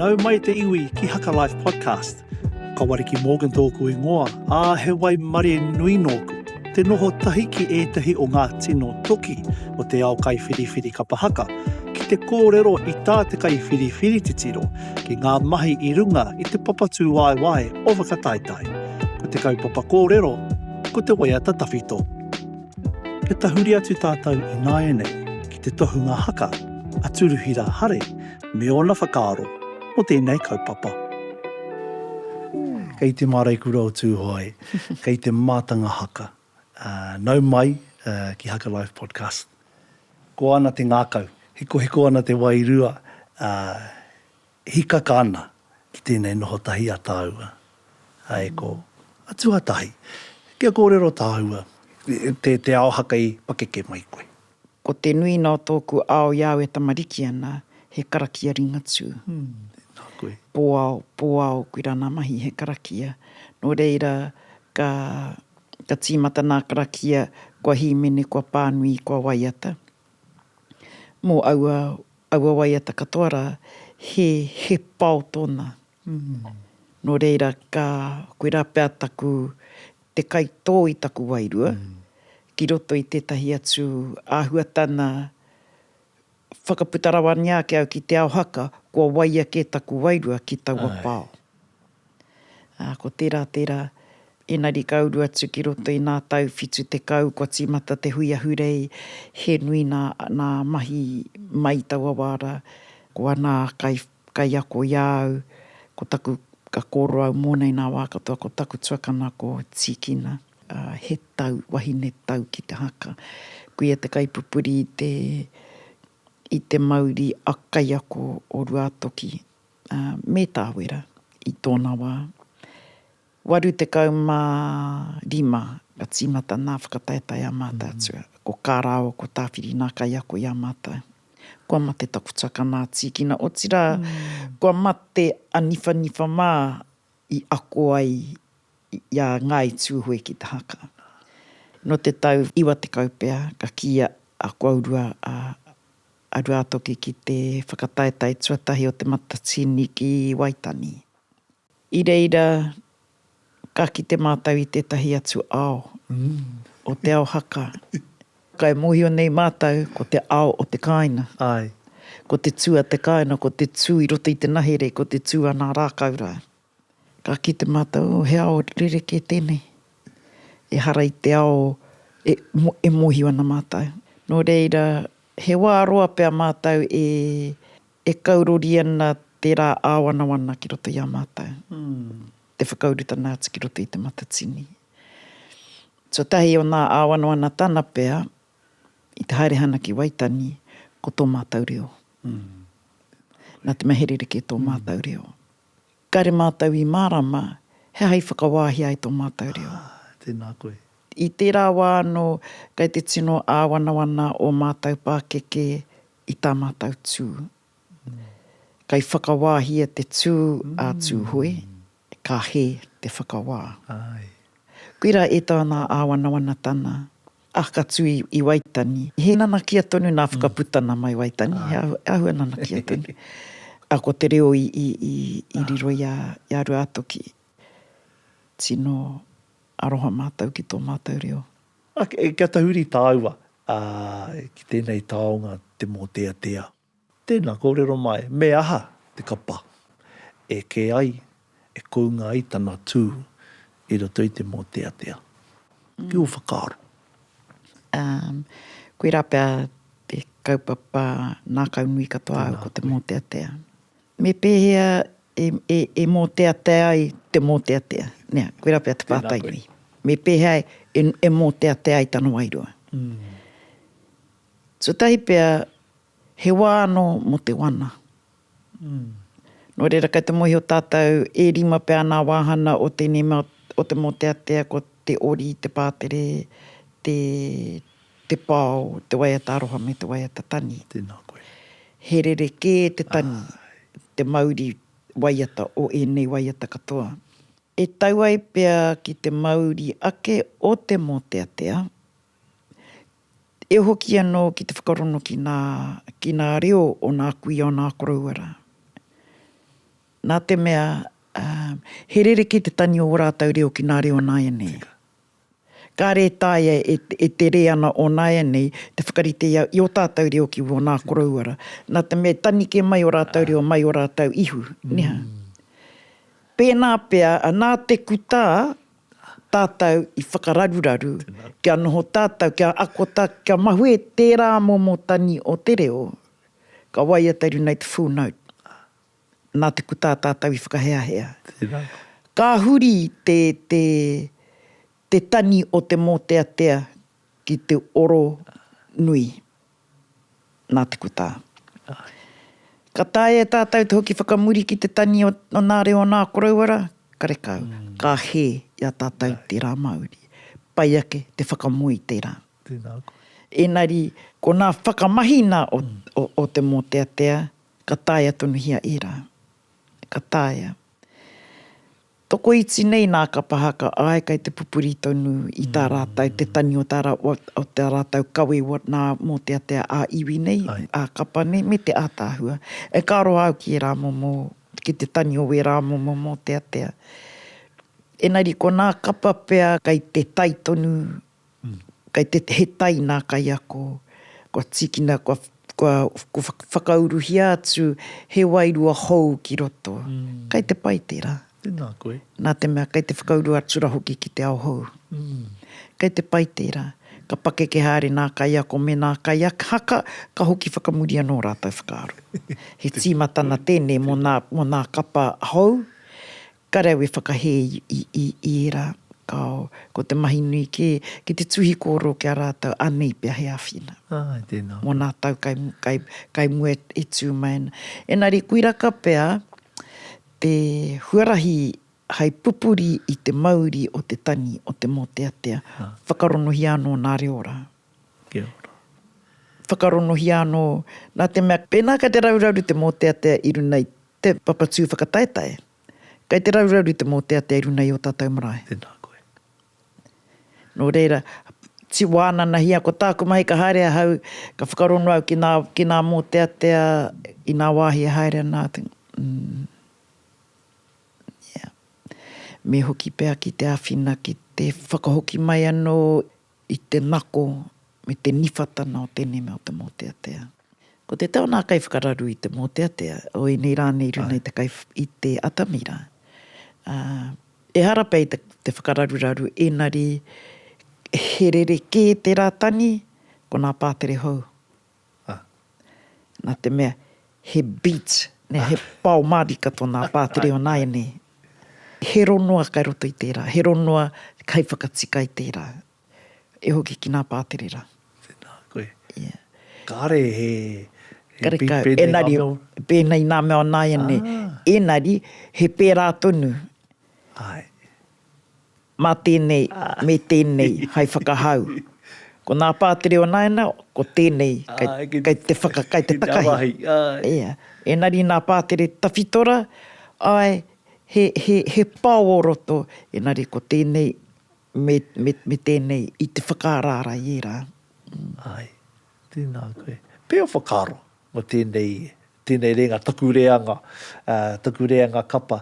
Nau mai te iwi ki Haka Life Podcast. Ka Wariki Morgan tōku ingoa, ā, he waimarie nui nōku. Te noho tahi ki ētahi o ngā tino toki o te ao kaiwhiriwhiri kapa haka, ki te kōrero i tā te kaiwhiriwhiri titiro ki ngā mahi i runga i te papatūwaewae o Whakataetae. Ko te kaupapa kōrero, ko te waiata tawhito. Kia tahuri atu tātou ināianei ki te tohunga haka a Turuhira Hare me ōna whakaaro mō tēnei kaupapa. Kei te māreikura o Tūhoe, kei te mātanga haka. Nau mai ki Haka Life Podcast. Koa ana te ngākau, hikohiko ana te wairua, ā, Hikaka ana ki tēnei noho tahi a tāua, a Eko, a tuatahi, kia kōrero tāua. Te, te ao haka i pakeke mai koe. Ko te nuinga o tōku ao i au e tamariki ana, he karakia Ringatū. Nā koe. Pōao, pōao, koirā ngā mahi he karakia. Nō reira, ka, ka tīmata ngā karakia, kua hīmene, kua pānui, kua waiata. mō aua, aua waiata katoa rā, he, he pao tōna. Nō reira, ka, koirā pea taku, te kaitō i taku wairua, ki roto i tētahi atu āhuatana, whakaputa rawangia ake au ki te ao haka, kua waia kē taku wairua ki taua pao. Ā, ko tērā, tērā, engari ka uru atu ki roto i ngā tau whitu tekau kua tīmata te hui ahurei, he nui ngā, ngā mahi mai i taua wā rā. Ko ana kai, kaiako i a au, ko taku, ka kōrero au mōna i ngā wā katoa, ko taku tuakana ko Tīkina. Ā, he tau, wahine tau ki te haka. Kuia te kaipupuri i te, i te mauri a kaiako o Ruātoki, me Tāwera i tōna wā. 85 ka tīmata nā whakataetae a Mātaatua. Ko Kārāo, ko Tāwhiri nā kaiako i a mātou. Kua mate taku taka nā Tīkina, otirā, kua mate a Niwhaniwha mā i ako ai i a Ngāi Tūhoe ki te haka. Nō te tau 90 pea ka kīia a Koaurua a a Ruatoki ki te whakataetae tuatahi o Te Matatini ki Waitani. I reira ka kite mātou i tētahi atu ao o te ao haka. Kai mōhio nei mātou ko te ao o te kāina. Ko te tū a te kāina, ko te tū i roto i te nahere, ko te tū a nā rākau rā. Ka kite matou he ao rerekē tenei, ehara i te ao e mohi ana matou. No reira, he wa roa pea matou e kaurori ana te ra āwanawana ki roto i a matou, te whakaurutana atu ki roto i te Matatini. So tahi o nga āwanawana tana pea, i te haere hana ki Waitangi, ko to matou reo. Na te mea he rerekē to matou reo. Kare mātou i mārama he aha i whakawāhi ai tō mātou reo. Ā, tēnā koe. I tērā wā anō kei te tino āwanawana ō mātou pākeke i tā mātou tū. Kei whakawāhia te tū a Tūhoe, ka hē te whakawā. Āe. Koirā e tāna āwanawanatana A ka tū i Waitangi. He nanakia tonu nā Whakaputa nā Mai Waitangi, he āhua nanakia tonu. A ko te reo i riro i a Ruātoki. Tino aroha mātou ki tō mātou reo. Kia tahuri tāua ki tēnei taonga te mōteatea. Tēnā, kōrero mai, me aha te kapa e kē ai, e kounga ai tana tū i roto i te mōteatea? Ki ō whakaaro. Um, koirā pea te kaupapa nākau nui katoa au ko te mōteatea. Me pēhea e, e, e mōteatea ai te mōteatea? Nē, koirā pea te pātai nui. Me pēhea e, e mōteatea ai tana wairua? Mm. Tuatahi pea, he wā anō mō te wana. Nō reira, kei te mōhio tātou, e rima pea nā wāhana o tēnei mea, o te mōteatea, ko te ori, te pātere, te, te pao, te waiata aroha me te waiata tani. Tēnā koe. He rerekē te tani, te mauri waiata o ēnei waiata katoa. E tau ai pea ki te mauri ake o te mōteatea, e hoki anō ki te whakarono ki nā, ki nā reo o nā kuia o nā koroua rā. Nā te mea, he rerekē te tangi o ō rātou reo ki nā reo o nāianei. Tika. Kāre e taea e, e tere ana o nāianei te whakarite i a, i ō tātou reo ki wō nā koroua rā. Nā te mea, tanike mai ō rātou reo mai ō rātou ihu, niha. Pēnā pea, nā te kutā, Tātou i whakararuraru kia noho tātou, kia ako tātou, kia mahue tērā momo tani o te reo ka waiata i runga i te full note. Nā te kutā tātou i whakaheahea. Ka huri te tani o te mōteatea ki te oro nui. nā te kutā. Ka taea e tātou te hoki whakamuri ki te tani o nā reo o nā koroua rā, karekau, ka hē i a tātou tērā Māori. Pai ake te whakamoe i tērā. Ēnari, ko nā whakamahi nā o te mōteatea, ka taea tonuhia ērā. Ka taea. Tokoiti nei nā Kapahaka, āe kei te pupuri tonu i tā rātou te tani o tā o tā rātou kawe nā mōteatea ā-iwi nei, ā-kapa nei me te ātaahua. E ka roa au ki ērā momo, ki te tani o wērā momo mōteatea. Engari ko nā kapa pea kei te tai tonu Kei te, he tai nā kaiako, kua tīkina, kua, kua, kua whakauruhia atu he wairua hou ki roto. Kei te pai tērā. Tēnā koe. Nā te mea kei te whakauru atu rā hoki ki te ao hou. Kei te pai tērā. Ka pakeke haere nā kaiako me nā kaihaka, ka hoki whakamuri anō ō rātou whakaaro. He tīmatana tēnei mō nā, mō nā kapa hou, Ka rawe whakahē i ērā, kāo, ko te mahi nui kē, ki te tuhi kōrero ki a rātou anei pea he āwhina. Āe, tēnā koe. Mō nā tau kai mua e tū mai ana. Engari, koiraka pea te huarahi hai pupuri i te mauri o te tani, o te mōteatea. Whakaronohia anō nā reo rā. Kia ora. Whakaronohia anō, nā te mea, pēnā kei te rauraru te mōteatea i runga i Te papatū whakataetae. Kei te raurauri te mōteatea i runga i ō tātou marae. Tēnā koe. Nō reira, wānanahia ko tāku mahi ka haere ahau, ka whakarongo au ki nā, ki nā mōteatea i nā wāhi e haere ana atu. Ia. Me hoki pea ki te āwhina ki te whakahoki mai anō i te nako me te niwhatana o tēnei mea o te mōteatea. Ko te tau nā kaiwhakararu i te mōteatea, o ēnei rā nei runga i te kai, i te atamira, ā, ehara pea i te, te whakararuraru ēnari he rerekē tērā tangi, ko nā pātere hou, Ah. Na te mea, he beat, ne, he pao marika tona pātere o nāianei. He ronua kai roto i tērā, he ronua kai whakatika i tērā. E hoki ki nā pātere rā. Tēnā koe. Yeah. Kāre he, he beat pēnei ngā mea. Engari, pēnei nā mea o nāianei. Ah. Engari, he pērā tonu. Ae. Mā tēnei, me tēnei, hai whakahau. Ko nā pātere o nāiana, ko tēnei, kei te whaka, kei te takahi. Ia. Ēnari nā pātere tawhito ra, āe, he, he, he pao o roto, ēnari ko tēnei, me, me, me tēnei, i te whakaaraara i ērā. Āe. Tēnā koe. Pea o whakaaro mō tēnei, tēnei rēnga, taku reanga, taku reanga kapa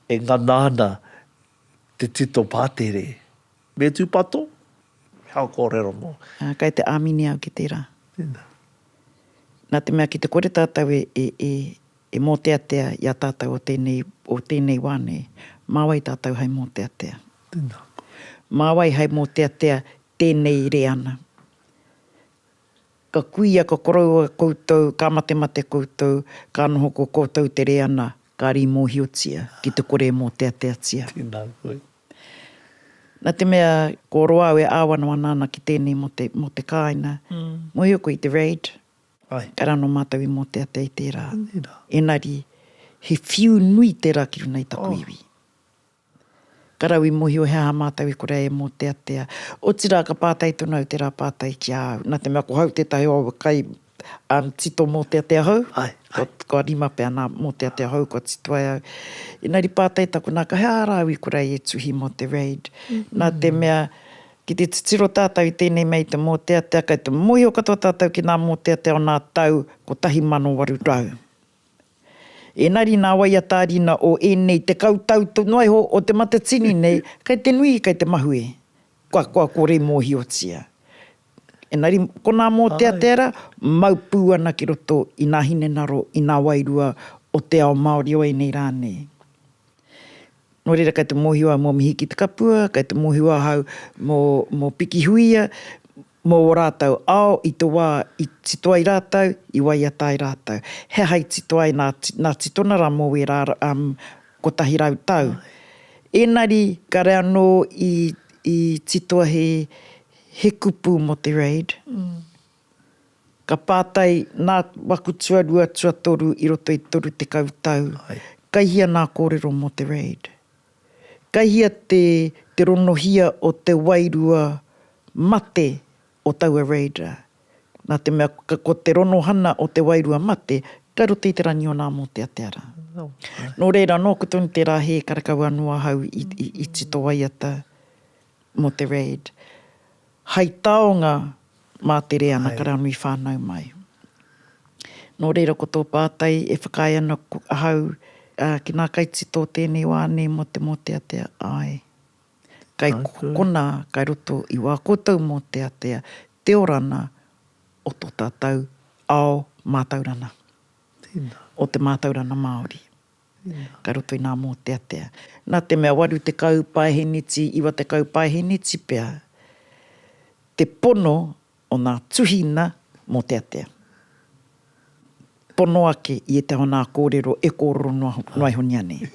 e ngana ana Te tito pātere. Me tūpato, me hao kōrero nō. Ā, kei te āmine au ki tērā. Tēnā. Nā te mea ki te kore tātou e, e, e, e mōteatea i a tātou o tēnei, o tēnei wā nei, mā wai tātou hai mōteatea? Tēnā koe. Mā wai hai mōteatea tēnei reana? Ka kuia, ka koroua koutou, ka matemate koutou, ka noho ko koutou te reana, ka ri mohiotia ki te kore e moteateatia. Tena koe. Na te mea ko roa au e awanawana ana ki tenei mo te, mo te kaina, mohio koe i te raid, kare ano matou i moteatea i tera, enari he whiu nui tera ki runa i taku iwi. Ka rau i mohio he aha mātou i kore ai e mōteatea. Otirā ka pātai tonu au tērā pātai ki a au, nā te mea ko hau tētahi o aua kai tito mōteatea hou, kua rima pea nā mōteatea hou kua tito ai au. Engari pātai taku nā, ka he aha rā au i kore ai e tuhi mō te RAID? Nā te mea, ki te titiro tātou i tēnei mea i te mōteatea, kei te mōhio katoa tātou ki ngā mōteatea o ngā tau 1800. Engari nā wai a tāriina o ēnei tekau tau noaiho o te Matatini nei, kei te nui, kei te mahue, kua kua kore mōhiotia. Engari konā mōteatea rā, mau pū ana ki roto i nā hinengaro, i nā wairua o te ao Māori o ēnei rā nei. Nō reira kei te mōhio au mō Mihi ki te Kapua, kei te mōhio ahau mō, mō Pikihuia, mō ō rātou ao i te wā i tito ai rātou, i waiata ai rātou. He aha i tito ai nā, nā Titona rā mō wērā, um, kotahi rau tau. Ēnari, kare anō i, i titoa he, he kupu mō te RAID. Ka pātai, Nā waku tuarua, tuatoru i roto i toru tekau tau, kai hia nā kōrero mō te RAID? Kai hia te te ronohia o te wairua mate o taua RAID rā? Nā te mea ko te ronohana o te wairua mate kai roto i te rangi o nā mōteatea rā. Nō reira, nōku tonu tērā hē karekau anō ahau i tito waiata mō te RAID. Hai taonga. Mātere ana karanui whānau mai. Nō reira ko tō pātai e whakaae ana ahau, ki nā kaitito tēnei wā nei mō te mōteatea, āe. Kai konā kai roto i wā koutou mōteatea te orana o tō tātou ao mātaurana, o te mātaurana Māori. Ka roto i nā mōteatea. Nā te mea waru tekau paeheniti, iwa tekau paeheniti pea te pono o nā tuhina mōteatea. Pono ake i ētahi o nā kōrero e kōrero noa iho nei anei.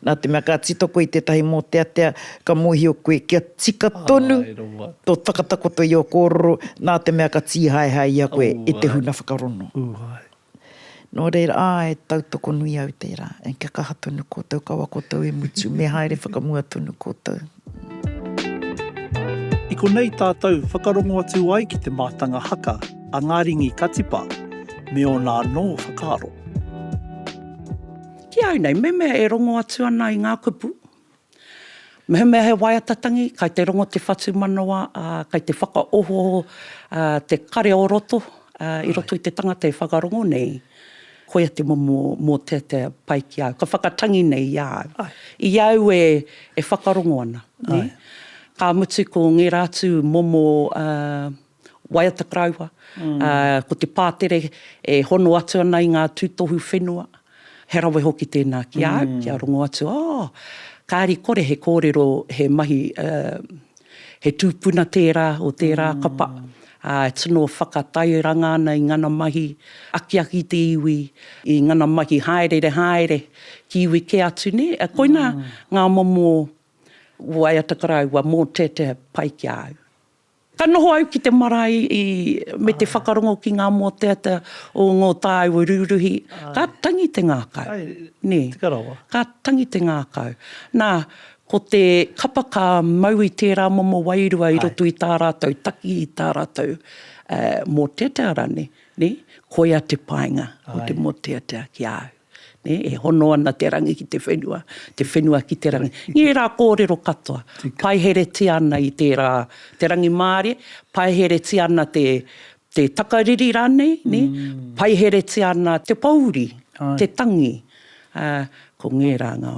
Nā te mea ka tito koe i tētahi mōteatea, ka mōhio koe kia tika tonu tō takatakoto i ō kōrero, nā te mea ka tīhaehae i a koe e te huna whakarono. Nō reira, āe, tautoko nui au tērā, and kia kaha tonu koutou, kaua koutou e mutu, me haere whakamua tonu koutou. I konei tātou whakarongo atu ai ki te mātanga haka a Ngā Ringi Katipa me ōna anō whakaaro. Ki au nei, mehemea e rongo atu ana i ngā kupu, Mehemea he waiata tangi, kai te rongo te whatumanawa, ā, kai te whakaohooho te kare o roto i roto i te tangata e whakarongo nei, koia te momo mōteatea pai ki a au, ka whakatangi nei i a au. I a au e whakarongo ana, nē? Ka mutu ko ngērā atu momo, ā. waiata karaua, ko te pātere e hono atu ana i ngā tūtohu whenua, he rawe hoki tēnā ki a au, kia rongo atu, oh, kāri kore he kōrero, he mahi, he tūpuna tērā o tērā kapa, e tino whakatairanga ana i ngana mahi, akiaki i te iwi, i ngana mahi hāereere hāere, ki iwi kē atu nē, koina ngā momo waiata karaua mō tēteha pai ki a au. Ka noho au ki te marae i, me te whakarongo ki ngā mōteatea o ngō tāua rūruhi, ka tangi te ngākau, nē, ka tangi te ngākau. Nā, ko te kapa ka mau i tērā momo wairua i roto i tā rātou taki, i tā rātou mōteatea rānei, nē, koia te painga o te mōteatea ki a au. nē, e hono ana te rangi ki te whenua, te whenua ki te rangi. Ngērā kōrero katoa, paiheretia ana i tērā, te rangimārie, paiheretia ana te, te takariri rānei, nē, paiheretia ana te pōuri, te tangi. Ā, ko ngērā ngā,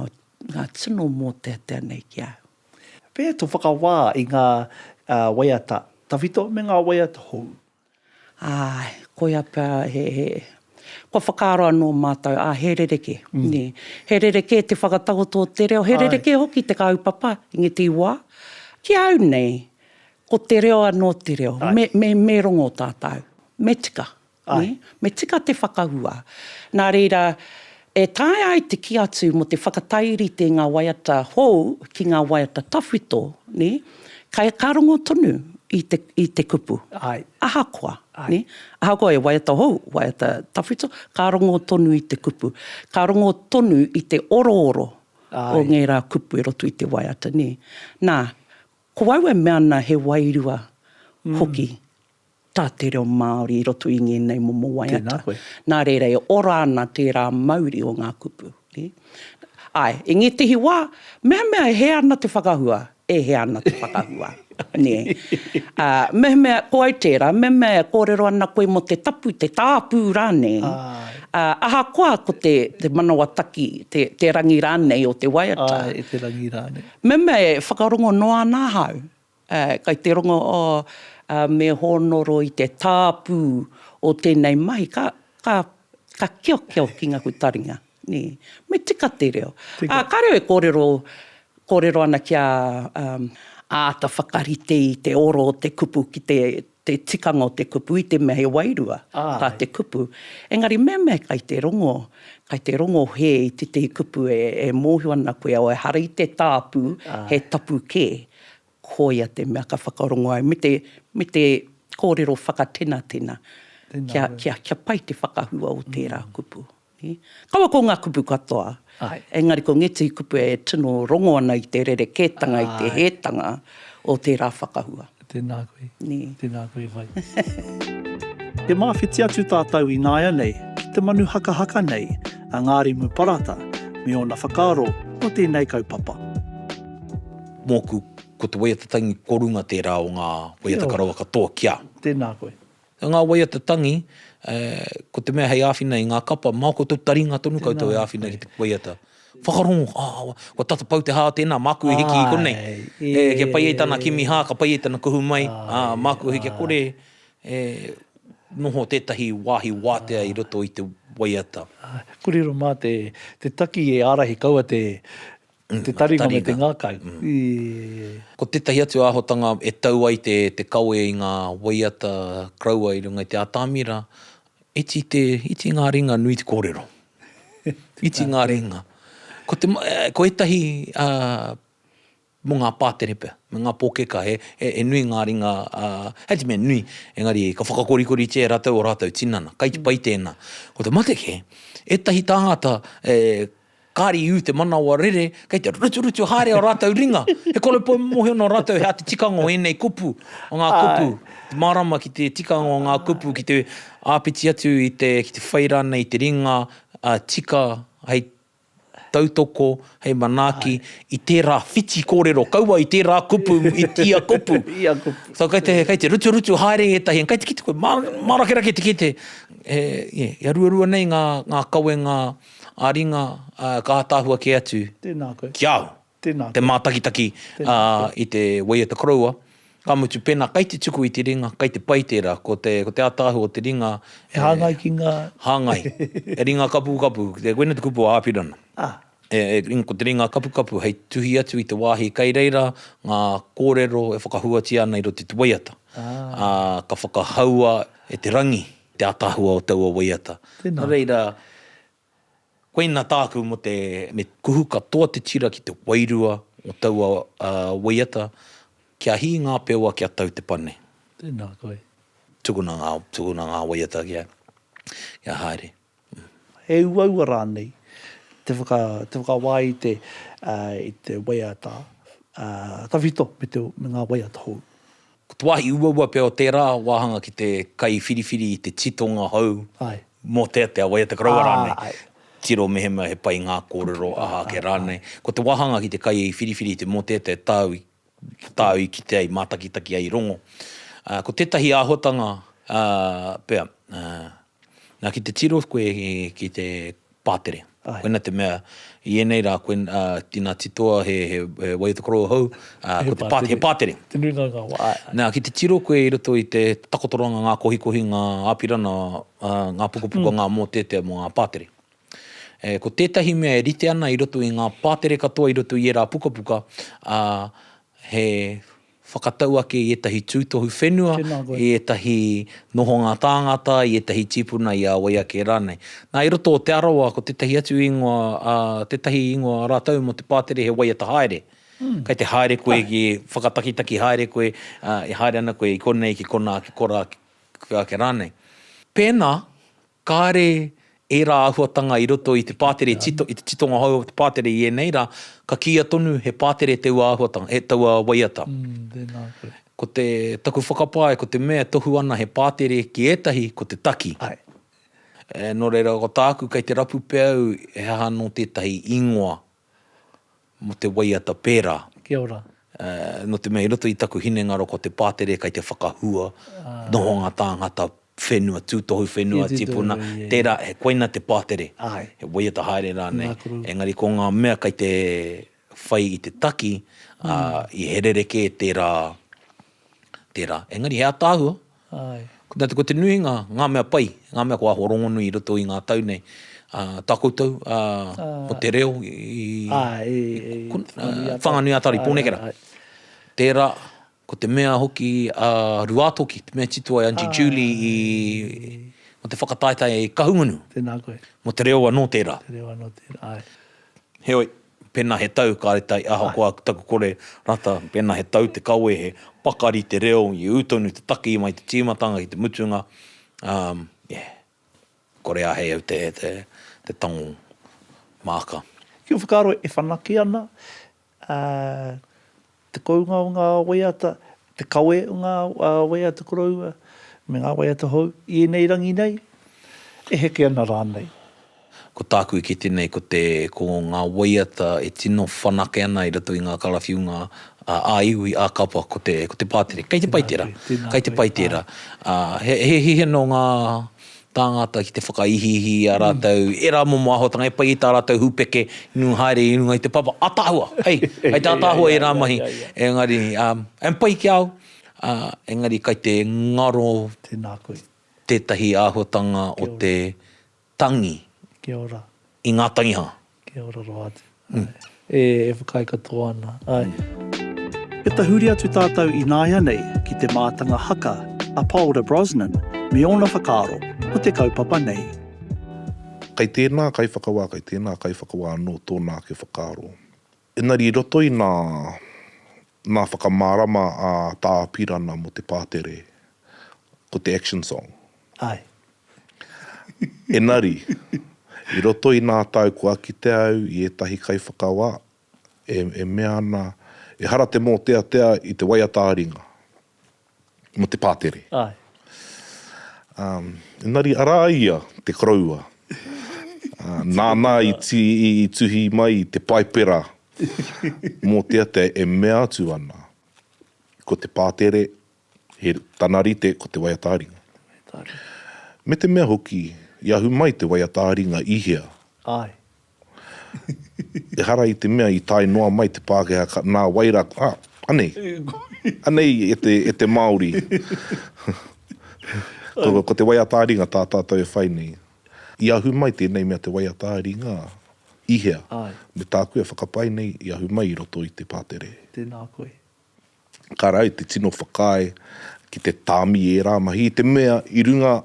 ngā tino mōteatea nei ki a au. Pēhea tō whakawā i ngā waiata tawhito me ngā waiata hou? Āe, koia pea he, he, kua whakaaro anō mātou, ā, he rerekē, nē. He rerekē te whakatakoto o te reo, he rerekē hoki te kaupapa, i ngētehi wā. Ki a au nei, ko te reo anō te reo. Me, me, me rongo tātou, me tika, nē, me tika te whakahua. Nā reira, E taea ai te kī atu mō te whakatairite i ngā waiata hou ki ngā waiata tawhito, nē? Kei, ka rongo tonu i te, i te kupu. Āe. Ahakoa, nē? Ahakoa he waiata hou, waiata tawhito, ka rongo tonu i te kupu. Ka rongo tonu i te orooro o ngērā kupu i roto i te waiata, nē? Nā, ko au e mea ana he wairua hoki tā te reo Māori i roto i ngēnei momo waiata. Nā reira e ora ana tērā mauri o ngā kupu. Āe, i ngētehi wā, mehemea e hē ana te whakahua, e hē ana te whakahua. Mehemea, ko au tērā, mehemea e kōrero ana koe mō te tapu, te tāpū rānei, ahakoa ko te manawa taki, te rangi rānei o te waiata. Mehemea e whakarongo noa ana ahau, Kai te rongo me hōnoro i te tāpū o tēnei mahi, ka kiokio ki ngā hutaringa. Me tika te reo. Ka reo e kōrero ana kia āta whakarite i te oro o te kupu ki te. te tikanga o te kupu i te mea he wairua tā te kupu. Engari mehemea kai te rongo, kai te rongo hē i tētahi kupu e mōhio ana koe ehara i te tāpū, he tapu kē, koia te mea ka whakarongo ai me te, me te kōrero whakatenatena kia, kia, kia pai te whakahua o tērā kupu. Kaua ko ngā kupu katoa, engari ko ngētehi kupu e tino rongo ana i te rerekētanga, i te hētanga o tērā whakahua. Tēnā koe. Tēnā koe whai. E māwhiti atu tātou i nāianei ki te manu hakahaka nei a Ngārimu Parata me ōna whakaaro mō tēnei kaupapa. Mōku, ko te waiata tangi ko runga tērā o ngā waiata karawa katoa kia. Tēnā koe. Nā ngā waiata tangi, ko te mea hei āwhina i ngā kapa, māu koutou taringa tonu koutou e āwhina ki te waiata. Whakarongo, āe, kua tata pau te hā o tēnā, māku e hiki i konei. E, kia pai ai tāna kimi hā, ka pai ai tana kuhu mai, ā, māku hoki kia kore e noho tētahi wāhi wātea i roto i te waiata. Āe, kōrero mā te taki e ārahi kaua te, Mm, te taringa, taringa me te ngākau. Mm. E... Ko tētahi atu āhotanga e tau ai te, te kawe i ngā waiata kraua i runga i te atamira, iti, te, iti ngā ringa nui te kōrero. iti ngā ringa. Ko, te, eh, ko etahi uh, mo ngā pātere pia, me ngā pōkeka, he, he, he nui ngā ringa, uh, he te mea nui, engari ka whakakorikori tia e rātou o rātou tinana, kai te pai tēnā. Ko te mate ke, etahi tāngata e, Kāre i ū te manawa rere, kei te ruturutu haere ō rātou ringa. He koropou mōhio nō rātou he āta tikanga o ēnei kupu, o ngā kupu, te mārama ki te tikanga o ngā kupu, ki te āpiti atu i te, ki te whai rānei i te ringa tika hei tautoko, hei manaaki i tērā whiti kōrero, kaua i tērā kupu, i ia kupu. So kei te, kei te ruturutu haere ētahi, kei te kite koe, mārakerake te kite, he, yeah, he ruarua nei ngā, ngā kawenga, ā ringa, ā, ka ātaahua kē atu ki a au te mātakitaki i te Way of the Koroua, ka mutu pēnā kei te tuku i te ringa, kei te pai tērā, ko te, ko te ātaahua o te ringa e hāngai ki ngā, hāngai, he ringa kapukapu, koinei te kupu o Āpirana, ko te ringa kapukapu hei tuhi atu i te wāhi kei reira ngā kōrero e whakahuatia ana i roto i te waiata, ā, ka whakahaua e te rangi. Te ataahua o taua waiata. Tēnā. Nō reira, koina tāku mō te, me kuhu katoa te tira ki te wairua o taua waiata, kia hī ngā pewa, kia tau te pane. Tēnā koe. Tukuna ngā, tukuna ngā waiata kia, kia haere. He uaua rānei te whakawā i te waiata tawhito me ngā waiata hou. Ko te wāhi uaua pea o tērā wāhanga ki te kaiwhiriwhiri i te titonga hou mō te atea waiata koroua rānei, tiro mehemea he pai ngā kōrero aha ake rānei. Ko te wāhanga ki te kaiwhiriwhiri i te mōteatea tāu i Ko tāu i kitea i mātakitaki ai i rongo, ko tētahi āhuatanga, pea, nā ki te tiro koe ki te pātere. Koina te mea, i ēnei rā, ina titoa he way of the korō hou, he pātere. Te nuinga o ngā wā. Nā, ki te tiro koe i roto i te takotoranga, ngā kohikohinga, āpirana, ngā pukapuka, ngā mōteatea mō ngā pātere. Ē, ko tētahi mea e rite ana i roto i ngā pātere katoa i roto i ērā pukapuka, ā, he whakatau ake i ētahi tūtohu whenua, i ētahi nohonga tāngata, i ētahi tīpuna i a wai ake rānei. Nā, i roto o Te Arawa, ko tētahi atu ingoa, ā, tētahi ingoa rātou mō te pātere he waiata haere. Kei te haere koe ki, whakatakitaki haere koe, ā, e haere ana koe i konei ki konā, ki korā, ki ake rānei. Pēnā, Kāre ērā āhuatanga i roto i te pātere tito, i te titonga hou o te pātere i ēnei rā, ka kīia tonu he pātere taua āhuatanga, he taua waiata. Mm, tēnā koe. Ko te, taku whakapae ko te mea e tohu ana he pātere ki ētahi ko te taki. Ae. E, nō reira ko tāku kei te rapu pea au he aha anō tētahi ingoa. mō te waiata pērā. Kia ora. Nō te mea i roto i taku hinengaro ko te pātere kei te whakahua nohonga tāngata whenua, tūtohu whenua, tipuna, tērā, koina te pātere, he waiata haere rānei. Engari ko ngā mea kei te whai i te taki, i he rerekē tērā, tērā. Engari he ataahua. Āe. Nā te, ko te nuinga, ngā mea pai, ngā mea kua āhua rongonui i roto i ngā tau nei, ā, tā koutou, ā, ko te reo i, Āe, i, i Whanganui-a-Tari. Whanganui-a-Tari, Pōnekera. Āe, āe. Tērā, ko te mea hoki a Ruātoki, te mea tito ai Aunty Julie i, mō te whakataetae Kahungunu. Tēnā koe. Mō te reo anō tērā. Te reo anō tērā, āe. Heoi, Pēnā he tau kāre tai ahakoa taku kore rata, pēnā he tau te kawe he pakari te reo i ū tonu te taki mai te tīmatanga ki te mutunga, um, yeah, kore ahei au te, te, te tango māka. Ki u whakaaro e whanake ana, uh, te kounga o ngā waiata, te kawe o ngā waiata koroua me ngā waiata hou i ēnei rangi nei, e heke ana rānei. Ko tāku i kite nei ko te, ko ngā waiata e tino whanake ana i roto i ngā karawhiunga ā-iwi, ā-kapa, ko te, ko te pātere. Kei te pai tērā, kei te pai tērā. He, he, he hihino ngā, Tāngata ki te whakaihiihi i a rātou ērā momo āhuatanga e pai i tā rātou hūpeke i nui haere i runga i te papa. Ataahua! Hei! Hei tā ataahua ērā mahi. Engari, and pai ki a au. Engari kai te ngaro tētahi āhuatanga o te tangi i ngā tangiha. Kia ora roa atu. E whakaae katoa ana. E tahuri atu tātou ināianei ki te mātanga haka a Paora Brosnan me ōna whakaaro ko te kaupapa nei. Kei tēnā kaiwhakawā, kei tēnā kaiwhakawā anō tōna ake whakaaro. Engari i roto i nā, nā whakamārama a Tā Apirana mō te pātere, ko te Action Song. Āe. Engari, i roto i ngā tau kua kitea au i ētahi kaiwhakawā e, e mea ana, ehara te mōteatea i te waiata ā-ringa mō te pātere. Āe. Ā, engari arā ia te koroua, ā, nāna i, i, i tuhi mai i te Paipera mōteatea e mea atu ana, ko te pātere, He tana rite ko te waiata ringa. Me te mea hoki, i ahu mai te waiata ringa i hea? Ae. Ehara i te mea i tae noa mai te Pākehā ka, nā wai rā, ah, anei. Anei e te, e te Māori. Ko, ko te waiata ringa tā tātou e whai nei. I ahu mai tēnei mea te waiata ringa i hea? Ae. Me tāku e whakapae nei, i ahu mai i roto i te pātere. Tēnā koe. ka rae te tino whakaae ki te tāmi i ērā mahi, i te mea i runga,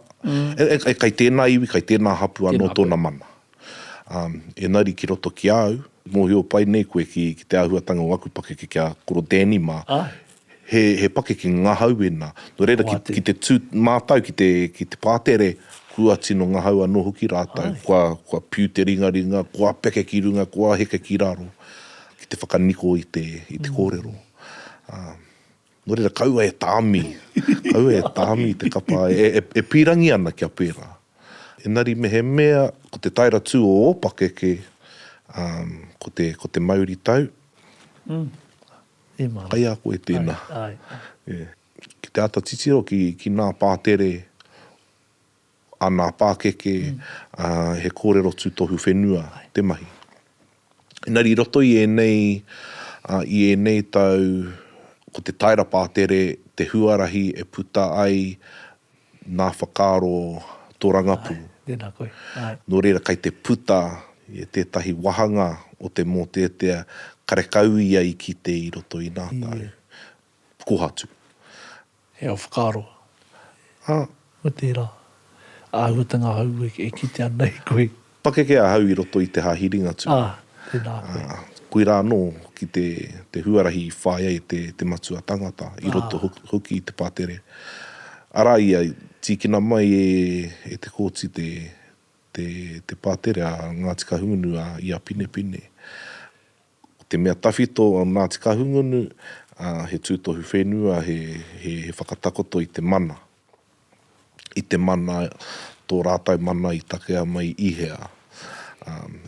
e kai tēnā iwi, kai tēnā hapū anō tōna mana. Engari ki roto ki a au, mōhio pai nei koe ki te āhuatanga o aku pakeke ki a Koro Danny mā, he pakeke ngahau ēnā. Nō reira, ki te tū mātau ki te pātere, kua tino ngahau anō hoki rātau, kua piu te ringaringa, kua peke ki runga, kua heke ki raro. Ki te whakaniko i te, i te kōrero. Ā, nō reira, kaua e tāmi, kaua e tāmi i te kapa e, e, e pīrangi ana kia pērā. Engari mehemea ko te taera tū o ō pakeke, ā, ko te, ko te mauritau, kai a koe tēnā. Ki te āta titiro ki, ki ngā pātere. āna pākeke, ā, he kōrero tūtohu whenua te mahi. Engari i roto i ēnei, ā, i ēnei tau, ko te taera pātere te huarahi e puta ai nā whakaaro tō rangapū. Āe, tēnā koe, āe. Nō reira, kei te puta e tētahi wāhanga o te mōteatea karekau ia i kite i roto i nā tau. Ē. kohatu. He ao whakaaro. Ā. Ko tērā. Āhuatanga hou e kite ana e koe. Pakeke ahau i roto i te hāhi Ringatū. Ā, tēnā koe. Ā, koirā anō ki te, te huarahi i whāi ai te, te matua tangata, i roto hoki i te pātere. Arā ia, tīkina mai e, e Te Kooti te, te, te pātere a Ngāti Kahungunu a Ia Pinepine. Ko te mea tawhito o Ngāti Kahungunu, he tūtohu whenua, he whakatakoto i te mana. I te mana, tō rātou mana i takea mai i hea.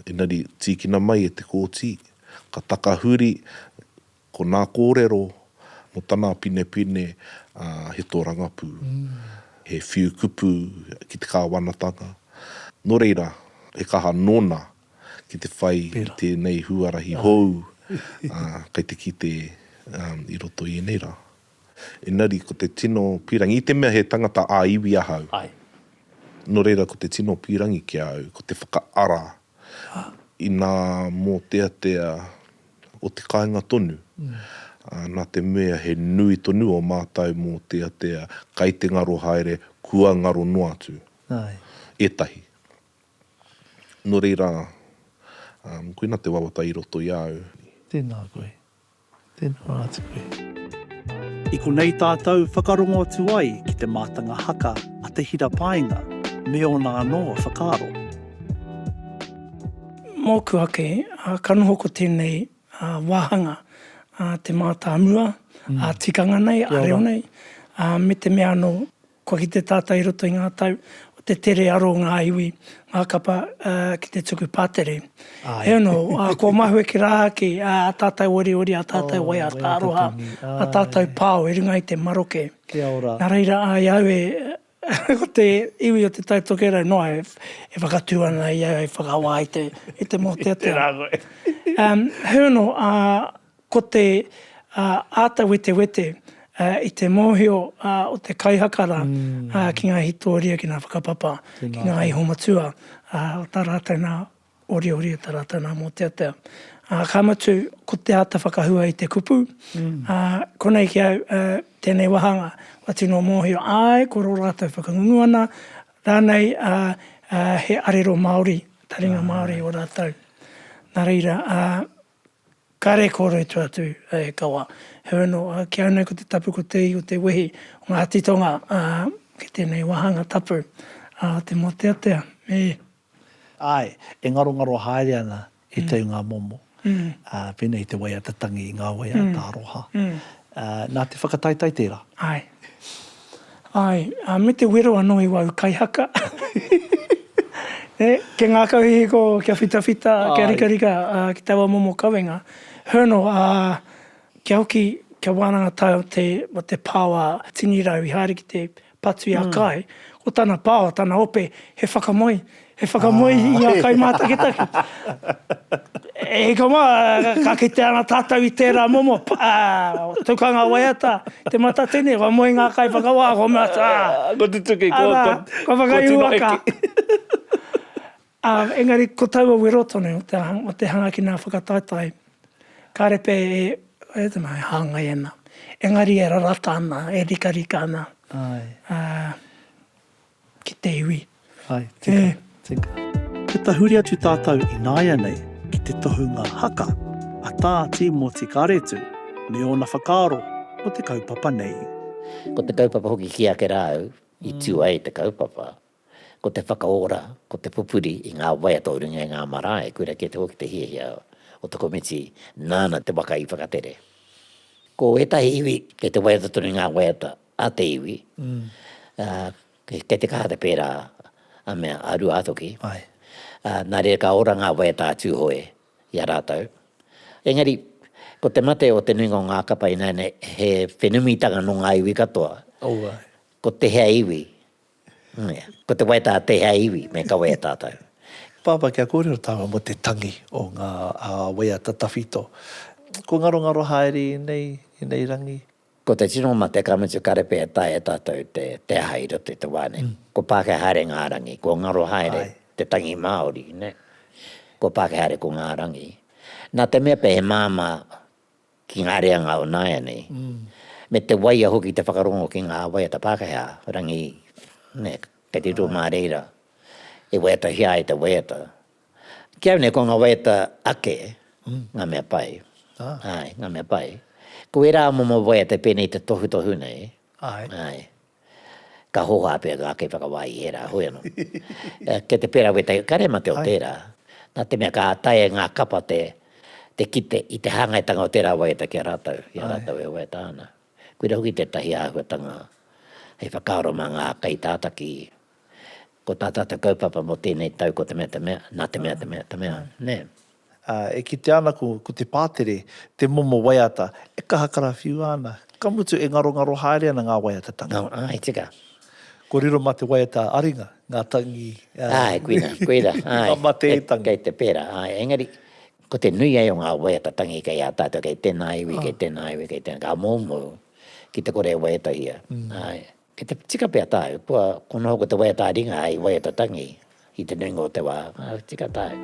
Engari, tīkina mai e te Kōti, ka takahuri ko nā kōrero mō tana pinepine he tōrangapū, he whiu kupu ki te kāwanatanga. Nō reira, he kaha nōna ki te whai i tēnei huarahi hou, ā, kei te kite i roto i ēnei rā. Engari ko te tino pīrangi, i te mea he tangata ā-iwi ahau, nō reira ko te tino pīrangi ki a au, ko te whakaara i ngā mōteatea o te kāinga tonu, nā te mea he nui tonu ō mātou mōteatea kei te ngaro haere, kua ngaro noa atu ētahi. Nō reira, koina te wawata i roto i a au. Tēnā koe. Tēnā rā atu koe. I konei tātou whakarongo atu ai ki te mātanga haka a Te Hira Paenga me ōna anō whakaaro. Mōku ake, ka noho ko tēnei wāhanga te mātāmua, ā, tikanga nei, ā reo nei, me te mea anō. Kua kite tātou i roto i ngā tau o te tere aro o ngā iwi, ngā kapa ki te tuku pātere. Hei anō, kua mahue ki rā ake ā tātou oriori, ā tātou waiata aroha, ā tātou pao i runga i te maroke. Nā reira, i a au e, ko te iwi o Te Tai Tokerau noa e whakatū ana i au hei whakawā i te mōteatea. Tērā koe. Hei anō, ā. Ko te āta wetewete i te mōhio o te kaihaka rā ki ngā hītoria, ki ngā whakapapa, ki ngā ihomatua o tā rātou nā oriori, o tā rātou nā mōteatea. Ka mutu, ko te āta whakahua i te kupu, konei ki au, tēnei wāhanga, kua tino mōhio, āe, ko rō rātou whakangungu ana, rānei he arero Māori, taringa Māori ō rātou. Nā reira, Kare kore tu atu e kawa. Heoi no, ki au nei ko te tapu ko te ihu te wehi o nga titonga ki tenei wahanga tapu a te moteatea me. Ae, e ngarongaro haere ana e tau nga momo. Pena i te waiata tangi i nga waiata aroha. Na te whakataitai tera. Ae. Ae, me te wero ano i wau kaihaka. E, kia ngakau hihiko, kia whitawhita, kia rikarika ki taua momo kawenga. Hernal, a, kia hoki, kia wananga tae o te, o te paoa tini rau i haere ki te patu i a Kae, ko tana paoa, tana ope, he whakamoe, He whakamoe i ngā kaimātakitaki. E hika mā, ka kite ana tātou i tērā momo, pa, tukanga waiata, te matatini, kua moe ngā kaiwhakawā, kua mea atu, ā. Kua tutuki, kua, kua, kua whakaiua ka. Ā, engari ko taua wero tonu o te, o te hanga ki ngā whakataetae, kāre pea e, e tino e hāngai ana, engari e rarata ana, e rikarika ana. Āe. Ā. ki te iwi. Hai, tika, tika. Kia tahuri atu tātou ināianei ki te tohunga haka a Tā Tīmoti Karetu me ōna whakaaro mō te kaupapa nei. Ko te kaupapa hoki ki ake rā au i tū ai te kaupapa, ko te whakaora, ko te pupuri i ngā waiata o runga i ngā marae, koirā kē te hoki te hiahia o te komiti nāna te waka i whakatere. Ko ētahi iwi, kei te waiata tonu i ngā waiata a te iwi, kei te kaha te pērā a mea a Ruātoki, nā reira ka ora ngā waiata a Tūhoe i a rātou. Engari, ko te mate o te nuinga o ngā kapa ināianei he whenumitanga nō ngā iwi katoa. Ko tēhea iwi, ko te waiata a tēhea iwi me kawe e tātou. Pāpā, kia kōrero tāua mō te tangi o ngā waiata tawhito. Kua ngarongaro haere i nei, i nei rangi. Ko te tino mate ka mutu kare pea e taea e tātou te aha i roto i te wā nei. Ko Pākehā haere ngā rangi, ko ngaro haere te tangi Māori. Ko Pākehā haere ko ngā rangi. Nā te mea pea he māmā ki ngā reanga o nāianei, me te waia hoki te whakarongo ki ngā waiata Pākehā, rangi, kei te riro mā reira e waiatahia ai te waiata. Ki au nei ko nga waiata ake nga mea pai, ae, nga mea pai. Ko era momo waiata penei i te tohutohu nei, ae, ka hoha pea nga ake whakawā i era, hoi ano. Kei te pera wetahi, ka rema te o tera, na te mea ka taea e nga kapa te kite i te hangaitanga o tera waiata ki a ratou, i a ratou e waiata ana. Koira hoki tetahi ahuatanga hei whakaaro ma nga kaitataki Ko tā tātou kaupapa mō tēnei tau ko te mea, te mea, nā te mea, te mea, te mea, nē. Ā, e kitea ana ko, ko te pātere, te momo waiata, e kaha karawhiua ana, ka mutu e ngarongaro haere ana ngā waiatatanga. Ngaro, āe, tika. Kua riro mā te waiata aringa, ngā tangi, ā. Āe, koina, koina, āe. Ngā mateitanga. Kei te pērā, āe, engari, ko te nui ai o ngā waiata tangi kei a tātou, kei tēnā iwi, kei tēnā iwi, kei tēnā, ka moumou ki te kore e waiatahia, āe. Kei te tika pea tāu, kua kono hoki te waiata ā-ringa hei waiata tangi i te nuinga o te wā, ā, tika tāu.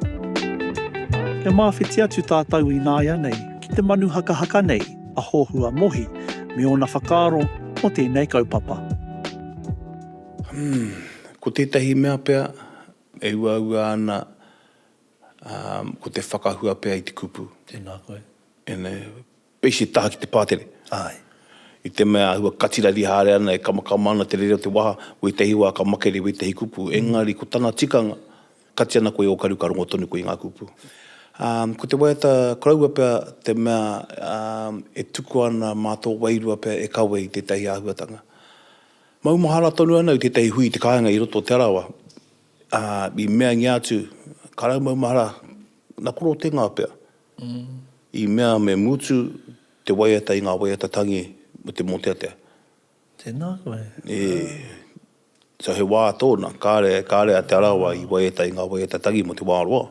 Kia māwhiti atu tātou ināianei ki te manu hakahaka nei a Hohua Mohi me ōna whakaaro mō tēnei kaupapa. Umm, ko tētahi mea pea e uaua ana, ā, ko te whakahua pea i te kupu. Tēnā koe. Ēnei, Base taha ki te pātere. Ae. I te mea āhua katirari haere ana e kamakama ana te rere o te waha, wētahi wā ka makere i wētahi kupu, engari ko tana tikanga, kati ana koe ōkaru ka rongo tonu koe i ngā kupu. Ā, ko te waiata koroua pea te mea e tuku ana mā tō wairua pea e kawe i tētahi āhuatanga. Maumahara tonu ana i tētahi hui i te kāinga i roto o Te Arawa, ā, i meangia atu, ka rau maumahara, na koro te ngao pea. I mea me mutu te waiata i ngā waiata tangi me te mōteatea. Tēnā koe. E. So he wā tōna, kāre, kāre a Te Arawa i waiata i ngā waiata tangi mō te wā roa,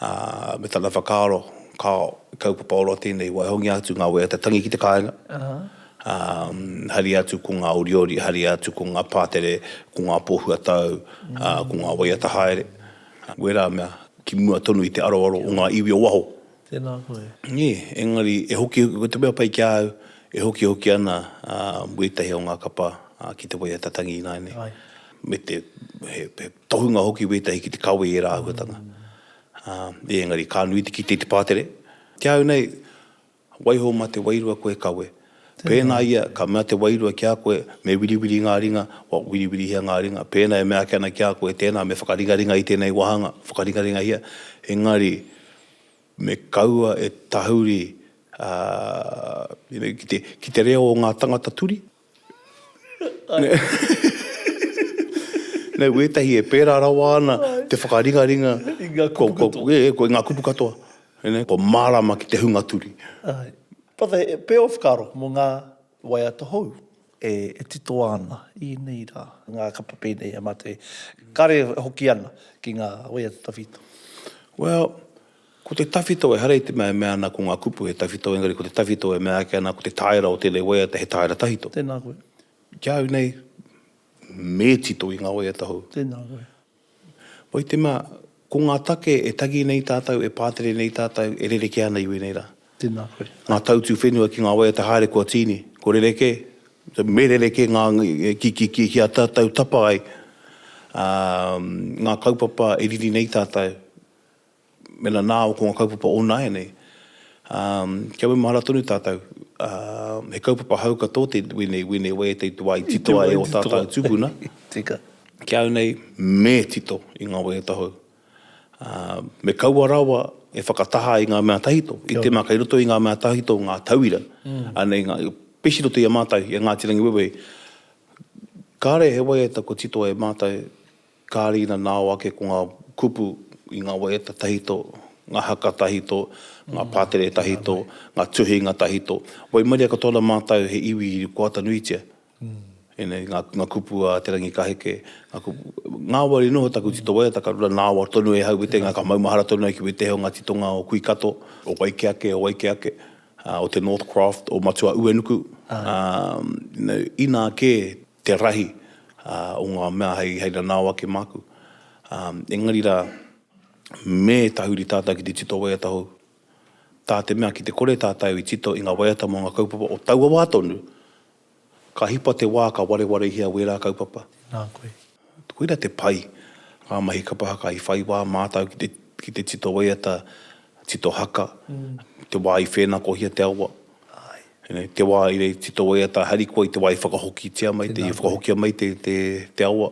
ā, me tana whakaaro, kāo, he kaupapa ora tēnei i waihongia atu ngā waiata tangi ki te kāinga, ā, haria atu ko ngā oriori, haria atu ko ngā pātere, ko ngā pōhuatau, ā, ko ngā waiata haere, wērā mea Ki mua tonu i te aroaro o ngā iwi o waho. Tēnā koe. Nē, engari e hokihoki, ko te mea pai ki a au, e hokihoki ana ētahi o ngā kapa ki te waiata tangi ināianei. Ai. Me te, he tohunga hoki wētahi ki te kawe i ērā āhuatanga. Engari ka nui te kite i te pātere. Ki a au nei, Waiho mā te wairua koe kawe. Pēnā ia ka mea te wairua ki a koe, me wiriwiri ngā ringa, kua wiriwirihia ngā ringa. Pēnā e mea ake ana ki a koe, tēnā, me whakaringaringa i tēnei wāhanga, whakaringaringahia, engari, me kaua e tahuri, ā, ki te reo o ngā tangata turi. Nō wētahi e pērā rawa ana te whakaringaringa i ngā kupu katoa. E, ko ngā kupu katoa. Kua mārāma ki te hunga turi. Āe. But the pair of karo mō ngā waiata hou. E titoa ana i ēnei rā. Ngā kapa pēnei a Mate. Kāre e hoki ana ki ngā waiata tawhito. Well. Ko te tawhito ehara i te mea e mea ana ko ngā kupu he tawhito engari ko te tawhito e mea ake ana ko te tāera o tēnei waiata he tāera tawhito. Tēnā koe. Ki au nei, me tito i ngā waiata hou. Tēnā koe. Wai te mea, ko ngā take e tangi nei tātou, e pātere nei tātou, e rerekē ana i wēnei rā. Tēnā koe. Ngā tautū whenua ki ngā waiata haere kua tīni, kua rerekē, me rerekē ngā kia tātou tapa ai ngā kaupapa e riri nei tātou. Mēnā nā au ko ngā kaupapa o nāianei, kia maumahara tonu tātou, he kaupapa hou katoa te wēnei, wēnei wai e teitu wā i titoa e ō tātou tūpuna, ki au nei me tito i ngā waiata hou. Me kaua rawa e whakataha i ngā mea tahito, i te mea kei roto i ngā mea tahito ngā tauira, anei ngā, pēsi roto i a mātou, i a Ngāti Rangiwewehi, kāre he waiata kua titoa e mātou Kāre ina nao ake ko ngā kupu i ngā waiata tahito, ngā haka tahito, ngā pātere tahito, ngā tuhinga tahito. Waimaria katoa ana mātou he iwi i koata nuitia. Ēnei ngā, ngā kupu a Te Rangikaheke, ngā kupu, ngāwari noa taku tito waiata ka rura nāwar tonu e hau wetenga, ka maumahara tonu ai ki wetehi o ngā titonga o Kuikato, o Waikeake, o Waikeake, o te Northcroft, o Matua-Uenuku, you know, inā kē te rahi o ngā mea hei nanao ake māku. Engari rā, me tahuri tātou ki te tito waiata hou, tā te mea ki te kore tātou i tito i ngā waiata mō ngā kaupapa o taua wā tonu, ka hipa te wā ka warewarehia wērā kaupapa. Nā koe. Koira te pai, ngā mahi kapa haka i whai wā mātou ki te tito waiata, tito haka, te wā i whēnakohia te awa. Āe. Ina te wā i rei tito wai ata harikoa i te wā i whakahokitia mai te, i whakahokia mai te, te, te awa,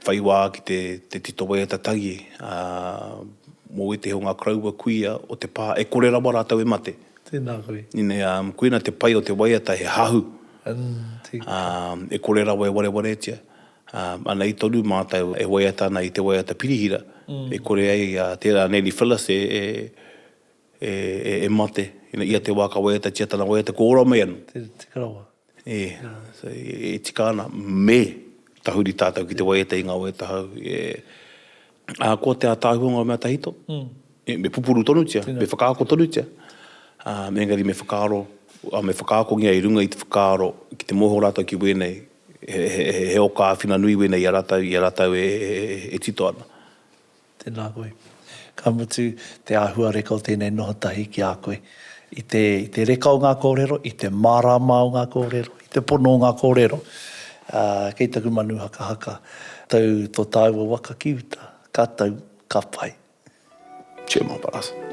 whai wā ki te, te tito wai ata tagi, ā, mō ētehi o ngā koroua kuia o te pā, e kore rawa rātou e mate. Tēnā koe. Ina, ā, koina te pai o te waiata he hahu, ā, e kore rawa e warewaretia. Ā, ana i tonu mātou e waiata ana i te waiata pirihira, e kore ai, ā, tērā a Nellie Phillis e, e, E, e, e mate, ina, ia te wā ka waiatatia tana waiata, ko ora mai anō. Te, te karawa. E, so, e, e tika ana, me tahuri tātou ki te waiata i ngā waiata hou. E, ā, ko te ātaahua ngā mea tahito, e, me pupuru tonutia, me whakaako tonutia, ā, engari me whakaaro, ā, me whakaakongia i runga i te whakaaro ki te mōhio rātou ki wēnei, he, he, he, he oka āwhina nui wēnei i a rātou, i a rātou e, e, e, e tito ana. Tēnā koe. Ka mutu, te āhuareka o tēnei noho tahi ki a koe. I te, i te reka o ngā kōrero, i te mārāma o ngā kōrero, i te pono o ngā kōrero, ā, kei taku manu hakahaka, tau tō tāua waka ki uta. Ka tau, ka pai. Chair Marae.